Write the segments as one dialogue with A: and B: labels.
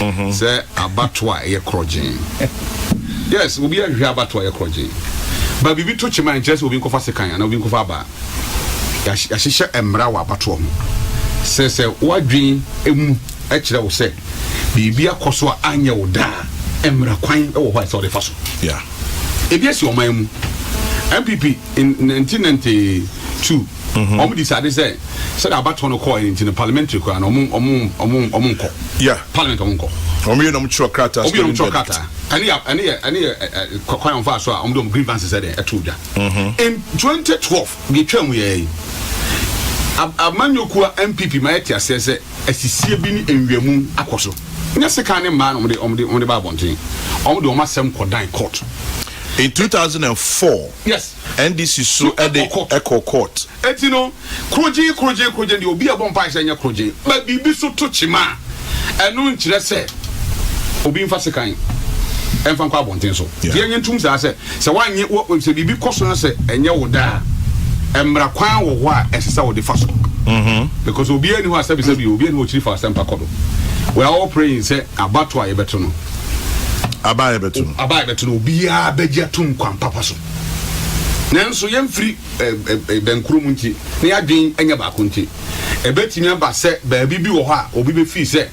A: mm-hmm. sɛ abato a ɛyɛ korɔgyen yes obi ahwehwɛ abato a ɛyɛ korɔgyen ba biribi to kyema nkyerɛ sɛ obi nkɔfa sekan anaa obi nkɔfa aba yɛahyehyɛ mmara wɔ abatoɔ ho sɛ sɛ woadwen mu kyerɛ wo sɛ biribi akɔ so a anyɛ wo daa mmara kwan wɔ hɔ a ɛsɛ wode fa so
B: ebi asi ɔman
A: mu mpp 1992 Mm-hmm. Wɔn decide sɛ sɛdeɛ abatoɔ no kɔɔ nti no parliamentary koraa no wɔn wɔn wɔn wɔn nkɔ. Yeah. Parliament
B: wɔn nkɔ.
A: Wɔn yɛ wɔn twerɛ
B: krataa. Wɔn yɛ wɔn twerɛ krataa.
A: Ɛne yɛ ɛne yɛ ɛne yɛ ɛ kwan wɔn fa so a wɔn de wɔn grievances ɛde ɛto dwa. Mm-hmm. In twenty twelve deɛ etwa mu yɛ yi amanyɔkuo NPP ma yɛ te aseɛ sɛ asisie bi ne nwiamu akɔ so. Nyɛ sekan ne mmaa na wɔn de wɔn de wɔn de ba abɔnten. Wɔn de wɔn asɛm kɔ dan court. In two thousand and
B: four. Yes.
A: NDC so
B: de kɔ court. Enti no,
A: krogyee, krogyee, krogyee deɛ obi a ɛbɔ mpaeɛ sɛ ɛnyɛ krogyee ba biribi so to kyema a, ɛno nkyerɛ sɛ obi mfa sekan mfa nkɔ abɔnten so. Nti yɛnyɛ ntom saa sɛ sɛ woanyɛ, sɛ biribi kɔ so na sɛ ɛnyɛ wo dɛ a, mmara kwan wɔ hɔ a ɛsɛ sɛ wode fa so. Because obiara nni hɔ a sɛbisɛbi o, obiara nni hɔ a ɔkyiri fa asɛmpa kɔ do. We are all praying sɛ abatoɔ a yɛbɛto no, aba
B: a yɛbɛto no, aba a yɛbɛto no, obiara bɛgye
A: atom kwan papa so. Nanso yɛmfiri bɛn kurom nti na yɛadwene nyɛ baako nti, ɛbɛtumi aba sɛ baabi bi wɔ hɔ a obi bɛfiri sɛ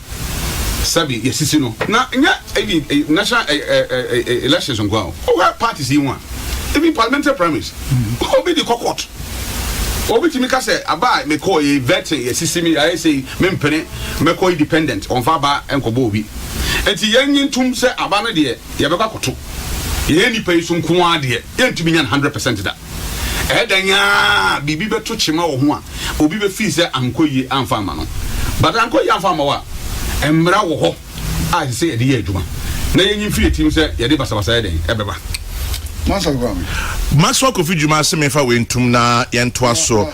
A: sɛbe yɛasisi no. Na nyɛ even national elections nko a o, wohwɛ parties yi ho a, even parliamentary primaries, obi de kɔ court. Obi tumi ka sɛ aba a mekɔɔ yi, vetting, yɛasisi me, yɛayɛ sei, mempene, mɛkɔ independent, wɔmfa aba nkɔbɔ obi. Enti yɛnnye ntom sɛ aba no deɛ yɛbɛkɔ akoto yɛyɛ nnipa yi so nko ara deɛ, yɛntumi nya no hundred percent da. Ɛyɛ dan ara biribi bɛto kyema wɔ ho a, obi bɛfii sɛ ankɔ yie amfa amma no. But ankɔ yie amfa amma wo a, mmara wɔ hɔ a ɛsɛ sɛ yɛde yɛ adwuma na yɛnyi mfiri yɛn tirim sɛ yɛde basabasa yɛ dɛn ɛbɛba.
B: Maxwell Kofi Juma se menfa wei ntom na yɛntoa so.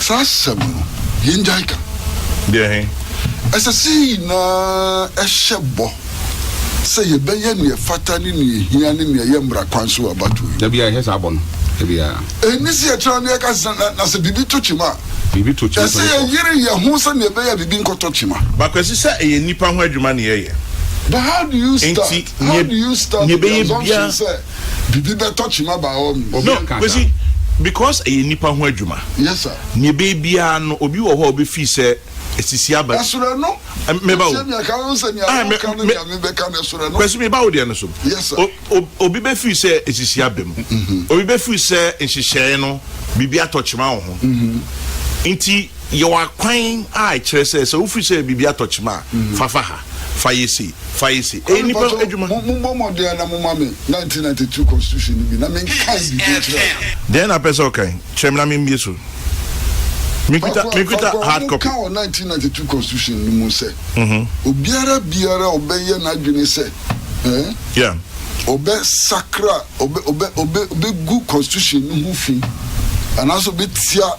B: Saa asɛm
C: no, yɛngyae ka. Deɛ he?
B: Ɛsɛ sɛ yɛ
C: nyinaa hyɛ bɔ sɛ yɛbɛyɛ nea ɛfata ne nea ehia ne nea ɛyɛ mmara kwan so wɔ abatoɔ yi mu. Da biara yɛhyɛ saa bɔ no,
A: da biara. Enni sɛ yɛtra na
C: yɛka sɛ, na, na sɛ biribi to kyema a. Biribi to kyema a, ɛsɛ sɛ
A: yɛyere yɛn ho
C: sɛnea ɛbɛyɛ a biribi nkɔtɔ kyema. But Kwasi, sɛ ɛyɛ
B: nnipa ho adwuma na yɛyɛ. But how do
C: you start, how do you start the assumption sɛ.
B: Bibi
C: bɛtɔ kyima by all means. No Kwesi
B: because ɛyɛ nipa ho adwuma. Yes sir. Neɛ ɛbɛyɛ
C: biara
B: no obi wɔ hɔ a ɔbɛfii sɛ ɛsisi aba bi. Ɛsrɛ no.
C: Meba o. Kwesi ɛmi ɛka
B: ho sɛ nea wo ka no nea me bɛ ka no ɛsrɛ no. Kwesi meba wo deɛ no so. Yes sir. O
C: o obi bɛfii sɛ
B: ɛsisi aba mu. Obi bɛfii sɛ nhyehyɛɛ no biribi atɔ kyima wɔ ho. Nti. Yɛ wɔ akwan a ɛkyerɛ sɛ sɛ wofiri sɛ biribi atɔ kyema a, fa fa ha, fa yɛ sei, fa yɛ sei. Ɛyɛ nnipa adwuma. Ɔno mpɔtɔ, mommɔ mmɔden na
C: momma me 1992 Constitution no bi na menkae biribi nkyerɛ wo. Deɛn na wopɛ
B: sɛ wokae? Kyerɛ me na memmue so. Mekita, mekita hard copy. Fakoa, wɔka wɔ 1992
C: Constitution no mu sɛ, obiara biara a ɔbɛyɛ n'adwene sɛ, eh, ɔbɛsakra, ɔbɛ, ɔbɛ, ɔbɛ, ɔbɛgu Constitution no ho fi, anaasɛ ɔbɛtia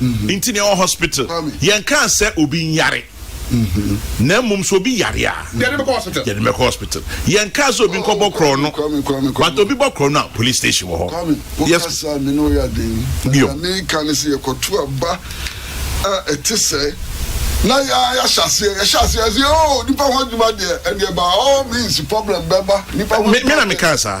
B: nti na yɛwɔ hospital. Yɛnkaa sɛ obi nyare, na mmom sɛ obi yare a, yɛde no
A: bɛkɔ hospital.
B: Yɛnkaa sɛ obi nkɔbɔ korɔno, but obi bɔ korɔno a, police station wɔ hɔ. Yes.
C: Bio. Me na mekaa saa.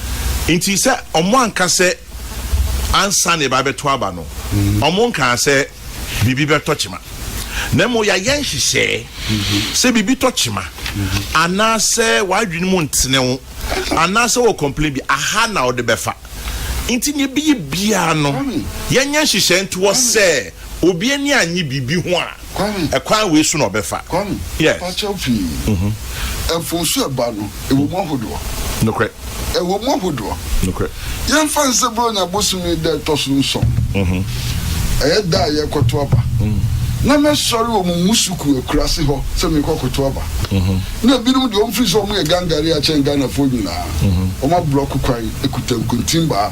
B: Nti sɛ ɔmo anka sɛ ansa na yɛba bɛto aba no, ɔmo nkaa sɛ biribi bɛtɔ kyema. Na mmom yɛayɛ nhyehyɛɛ sɛ biribi tɔ kyema, anaasɛ w'adwene mu ntene wo, anaasɛ wɔ complain bi, aha na wode bɛfa. Nti nea ɛbɛyɛ biara no, yɛnyɛ nhyehyɛɛ nto hɔ sɛ obi ani annye biribi ho a, Ɛkwan wei so na ɔbɛfa. Fakyɛw pii.
C: Ɛpo so ɛba no, ɛwɔ mu ahodoɔ. Nokorɛ.
B: Ɛwɔ mu ahodoɔ.
C: Nokorɛ.
B: Yɛmfa no sɛ
C: Buronya bosome da ɛtɔ so nson, ɛyɛ da a yɛrekɔto aba, na mɛsɔre wɔ mo Musuku akurase hɔ sɛ merekɔkoto aba. Na ebinom deɛ wɔmfiri sɛ wɔyɛ Gangare akyɛn Ghanafoɔ nyinaa, wɔaborɔko kwan kuta nkontimbaa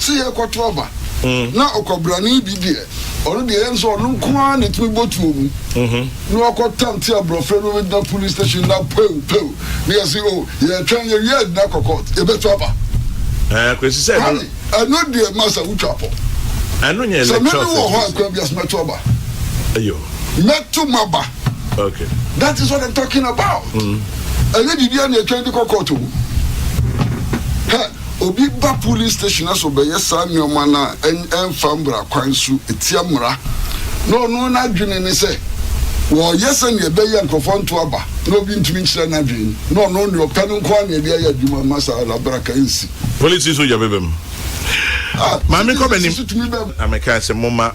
C: sɛ yɛrekɔto aba, na ɔkwabrani bi deɛ, ɔno deɛ ɛyɛ no sɛ ɔno nko ara na ɛtumi bɔ tuo mu, na wakɔtante aborɔfo anom agyina police station na pow pow, na yɛse o, yɛretwɛn, yɛwie a yɛtumi akɔ court, yɛbɛto aba. Ɛɛ, Kwesi
B: sɛ ɛno. Kwame, ɛno deɛ
C: masa wotwa pɔ. Ɛno nyɛ
B: electoral security. Sɛ mene wɔ hɔ a, kwan
C: bi ase
B: mɛto
C: aba. Ayo.
B: Mɛto mo
C: aba. Okay.
B: That is what I'm
C: talking about. Ɛnyɛ biribiara na yɛtwɛn de kɔ court o. Hɛ. Obi ba police station na sɛ ɔbɛyɛ saa nnoɔma no a ɛmfa mmra kwan so ɛtia mmra na ɔno n'adwene ne sɛ wɔyɛ sɛdeɛ ɛbɛyɛ nkorɔfoɔ nto aba na obi ntumi nkyerɛ n'adwene na ɔno deɛ ɔpɛ no nko ara na ɛde ayɛ adwuma mma saa labraka ɛnsi. Police nso gya bɛba
B: mu. Maame kɔ m'anim na mekaa sɛ momma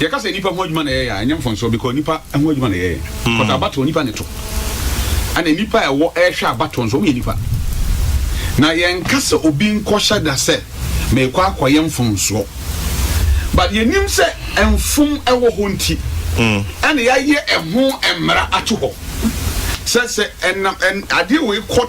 B: yɛka sɛ nipa ho
A: adwuma na yɛyɛ a ɛnyɛ mfɔnsoɔ because nipa ho adwuma na yɛyɛ but abatoɔ nipa ne to ɛna nipa a ɛwɔ ɛrehwɛ abatoɔ nso wɔn yɛ nipa na yɛnka sɛ obi nkɔhyɛ da sɛ mekɔ akɔyɛ mfɔnsoɔ but yɛnim sɛ mfom ɛwɔ hɔ nti ɛna yɛayɛ ɛho mmara ato hɔ sɛ sɛ ɛnam adeɛ wei kɔ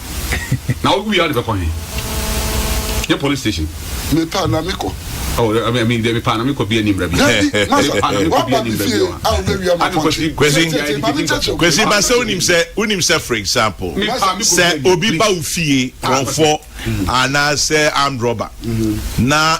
C: na
A: wo wia de bɛkɔ he ne police station
C: mepa na mekɔ
A: mepa na mekɔ bia nimra bikwasi
B: ba sɛ wonim sɛ wonim sɛ for example sɛ obi ba wo fie korɔmfɔ anaasɛ amdrɔba na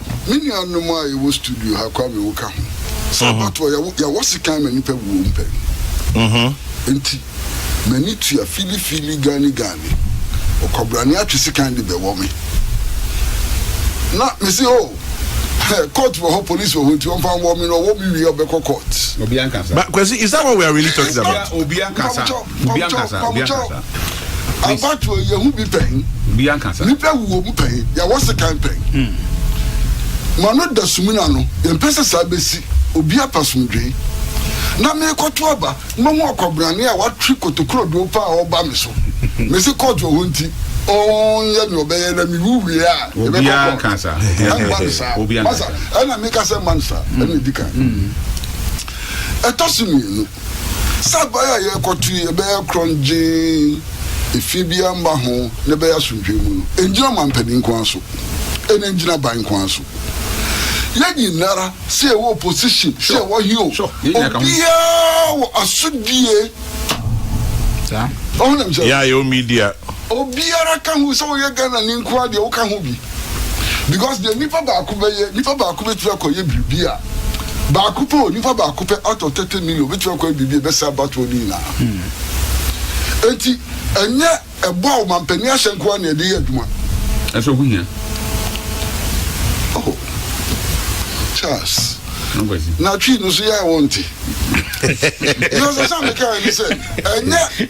B: Me nuanom a
C: yɛwɔ studio ha Kwame wo ka ho. Sɛ abatoɔ yɛwɔ yɛwɔ sekan ma nipa wuo mpɛn. Nti m'ani tua fili fili gani gani ɔkwabrane atwe sekan de bɛwɔ me na me se oh hɛ court wɔ hɔ police wɔ hɔ nti ɔmfa nwɔ me na ɔwɔ me wie a ɔbɛkɔ court. Obia nkasa. But Kwesi
A: is that what we are
B: really talking about? Obia nkasa.
A: Obi ankasa, obi
C: ankasa. Please. Abatoɔ yɛ hu bi pɛn. Obi ankasa. Nipa
A: wuo mu pɛn,
C: yɛ wɔ sekan pɛn. Hmm. Ma no da sumina no, yɛ mpɛ sɛ saa bɛ si, obi apɛ asomdwee. Na me kɔ to aba, ma hu ɔkwabrane a watwe kotokuro doo paa a ɔba me so. Me se kɔɔt wɔ hɔ nti, ɔn yɛ ne ɔbɛyɛ na me wu wie a, yɛ bɛ kɔ kɔɔt. Ɛn ma no saa. Obi
A: ankasa.
C: Ɛna me ka sɛ ma no saa, ɛna di kan. Hmm. Ɛtɔ so mmienu. Sackby a yɛrekɔto yi bɛyɛ krɔngyenn, efi biara mma ho na ɛbɛyɛ asomdwoe mu no, engyina ɔmampanin nko ara so, ɛna engyina ban nko ara so. Yɛn nyinara, sɛ yɛwɔ opposition, sɛ yɛwɔ he o, obiara wɔ asodie.
D: Ɔho deɛ mesɛ. Yɛa
B: yɛwɔ media. Obiara ka
C: ho sɛ woyɛ Ghana ni nkoa deɛ woka ho bi because deɛ nipa baako bɛyɛ nipa baako bɛtumi akɔyɛ biribi a baako pɛ o nipa baako pɛ out of thirty million bɛtumi akɔyɛ biribi a ɛbɛsɛ abatoɔ no nyinaa enti ɛnyɛ ɛbɔ a ɔmampanin ahyɛ nkoa na yɛde yɛ adwuma. ɛsɛ ho hia.
A: Oh.
C: Charles. Nkwasi.
A: Na twi no so yɛ
C: a wɔnte. Yɛ sɛ sɛ meka ne sɛ ɛnyɛ.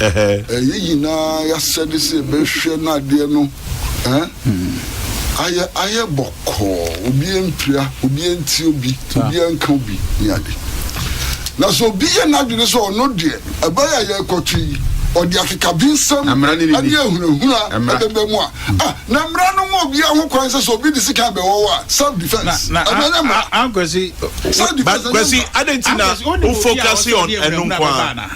C: eh. Ɛyɛ nyinaa y'asɛde sɛ yɛbɛhwɛ na adeɛ no eh. Ayɛ ayɛ bɔkɔɔ, obi anpira, obi antie obi, obi anka obi ne ade. Na sɛ obi yɛ n'adwene sɛ ɔno deɛ ɛbɛyɛ a yɛrekɔto yi, ɔde akekabensɛm ne ahunahuna ɛbɛba mu a, ah, na mmara no ma obiara ho kwan sɛ sɛ obi de sika bɛwɔ wo a, self defense. Na ɛno ɛnyɛ mmara. Self
D: defense ɛnyɛ mmara. Kwasi,
B: adɛn nti na wo focus on ɛno nko ara?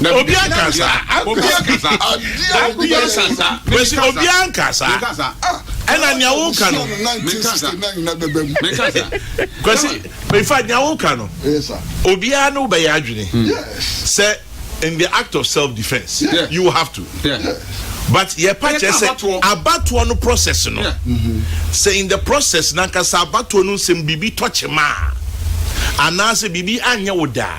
B: Na obi anka saa. Obi anka saa. Adeɛ Obi anka saa. Kwesi, Menkasa. obi anka saa. Menkasa. Ɛna nea woka no. Menkasa. Menkasa. Kwesi, in fact, nea woka no, Yes, sir. obiara ne wo bɛyɛ adwene Yes. sɛ in the act of self defence, Yeah. you have to. Yeah. But yɛpa Ɛyɛ kyerɛ sɛ sɛ abatoɔ. abatoɔ no process no, Yeah. sɛ in the process nankasa abatoɔ no nsɛm biribi tɔ kyema a, anaasɛ biribi anyɛ wo da a,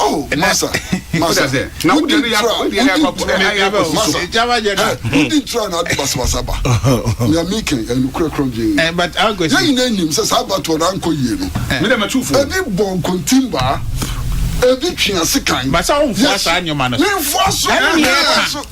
A: Oh, masa,
C: masa,
A: wodi ntura, wodi ntura,
D: masa, wodi ntura na adi
C: basabasa ba. Nea mi kɛn ɛnu kura kura gyee. Yɛn nyinaa
D: nim sɛ saa
C: abatoɔ na ankɔ yie no. Ebi
A: bɔ nkontimbaa,
C: ebi twe ase kan. Basa wo nfoa saa
D: nneɛma no. Mi nfoa so, mi nfoa
C: so.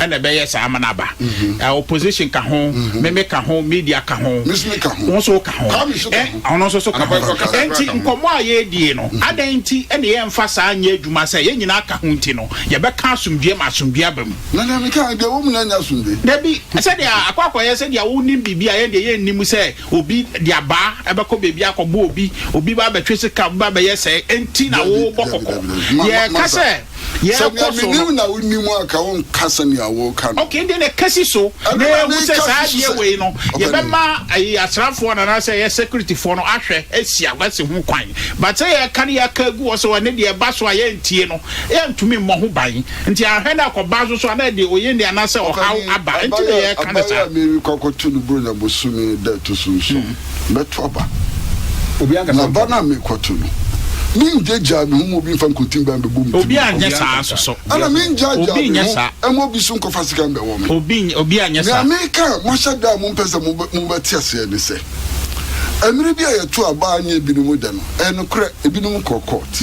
D: ɛna ɛbɛyɛ saa ama no aba mhm. eh, opposition ka ho mhm. meme ka ho media ka ho wo so ka ho eh, ɔno nso so ka ho ɛnti nkɔmmɔ a yɛdie no mhm. adɛn nti ɛne yɛmfa saa nyɛ adwuma sɛ yɛn nyinaa ka ho nti no yɛbɛka asomdue ma asomdue aba mu
C: dabi sɛdeɛ
D: akɔ akɔyɛ sɛdeɛ wonim biribi a yɛn deɛ yɛnnim sɛ Obi de abaa bɛkɔ baabi akɔbɔ obi, obi ba bɛtwe sika, obi ba bɛyɛ sɛɛ, enti na Dabi, worebɔ dabi, kɔkɔ? dabi, dabi. Ma- ma- Yɛreka Masa, sɛ Sɛ nea yɛrekɔ so no. menim na wonim a,
C: ka wonka sɛnea woreka no. Ok, ɛnde na kasi so
D: Ɛno na na yɛahu sɛ meka saa si so adeɛ sɛ, wei no, ɔpɛ no. yɛbɛma ayi asraafoɔ no anaasɛ ɛyɛ securityfoɔ no ahwɛ asi a wɔasi ho kwan. But sɛ yɛreka no yɛaka agu hɔ sɛ ɛno deɛ ɛba so a yɛrentie no, yɛrentumi mmɔ ho ban. Nti ahwɛ na kɔ ba soso ana ɛde oye ni ana sɛ ɔhaw aba nti na yɛ ka no saa. Abayewa a meri kɔ akɔ to no
C: Buronya bosome da ɛto so nson mɛto aba
A: na ba no a meri kɔ to no
C: me ngya gyaa me ho ma obi nfa nkotin ban bɛbɔ me tiri mu
D: ɛna me ngya gyaa
C: me ho ɛma
D: obi so nkɔfa sika
C: mbɛ wɔ me nea meri
D: ka a mo ahyɛ da
C: a mo mpɛ sɛ mo bɛ te aseɛ ne sɛ ɛmere bi a yɛ to aba a nyɛ ebi no mo dɛ no ɛyɛ nokorɛ ebi no mo kɔ court.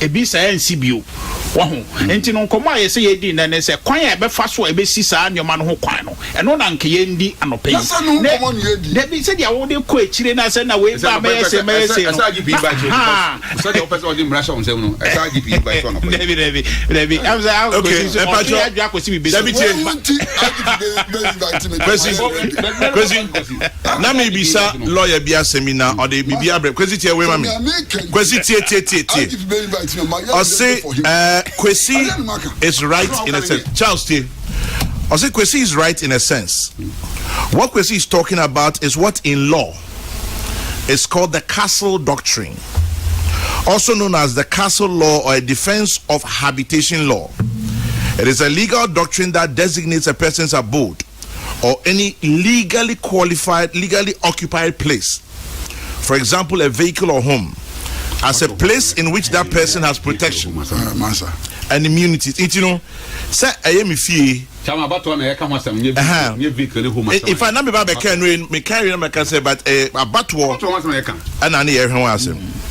D: Ebi saa ansi bio. Wahu? Enti no nkɔmmɔ a ɛyɛ sɛ yɛredi nnɛ ne sɛ, kwan a yɛbɛfa so a ebesi saa nneɛma no ho kwan no, ɛno na anka yɛredi anɔpa yi. Ne, dabi, sɛdeɛ wode kɔ akyire na sɛ na wei ba mɛyɛ sei, mɛyɛ sei
A: no, na, ahaa. Dabi, dabi, dabi,
D: ɛm sɛ akɔsi nso, ɔtwe adwene akɔsi biribi so. Dabi, tie. Kwesi,
B: Kwesi. na me bisa lɔya bi asɛm yi na ɔde biribi abrɛ kwesi tie wei ma me kwesi tie tie tie tie ɔse ɛɛ eh, kwesi is right in a sense charles tie ɔse kwesi is right in a sense what kwesi is talking about is what in law is called the castle doctrine also known as the castle law or a defense of habitation law it is a legal doctrine that designates a person's abode or any legally qualified, legally occupied place, for example, a vehicle or home, as a place in which that person has protection and immunity. Nti you know, say I am if you. Chama abatɔ na yɛka ho asɛm nye vehicle nye vehicle ne home asɛm. In fact, na mi ba bɛka no mi ka yɛ na mi ka sɛ but ɛyɛ eh, abatoɔ ɛna ne yɛ hwɛ ho asɛm.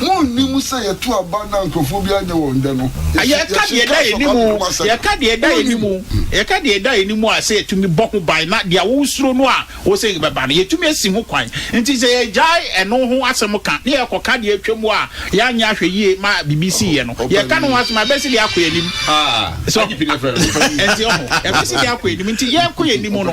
C: Munnim sɛ yɛto aba na nkurɔfoɔ biara nyɛ wɔn dɛ no? Yɛka deɛ ɛda yɛn anim, yɛka deɛ ɛda yɛn anim, yɛka deɛ ɛda yɛn anim a sɛ yɛtumi bɔ ho ban na deɛ wosuro no a wose ɛbɛba no, yɛtumi asi ho kwan. Enti sɛ yɛgyae ɛno ho asɛm ka na yɛkɔka deɛ atwam a yɛanyɛ ahwɛyie ma biribi siiɛ no, yɛka ne ho asɛm a, ɛbɛsi deɛ akɔ yɛn anim. So ate? Ɛnteɛ? Ɛbɛsi deɛ akɔ yɛn anim. Enti yɛkɔ yɛn anim no,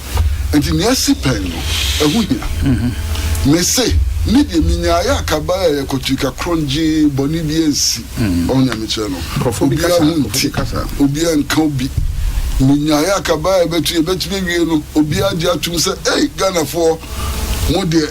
C: Enti nea asi pɛn no, ɛho hia. Mise, me deɛ menyaeɛ a kabae a yɛkɔ tirika korɔn gyee bɔne biara ansi. Ɔho nyamekyerɛ no, obiara ho nte, obiara nka obi. Menyaeɛ a kabae a yɛbɛto yɛbɛtumi awie no, obiara gye atom sɛ, Ei, Ghanafoɔ, mo deɛ,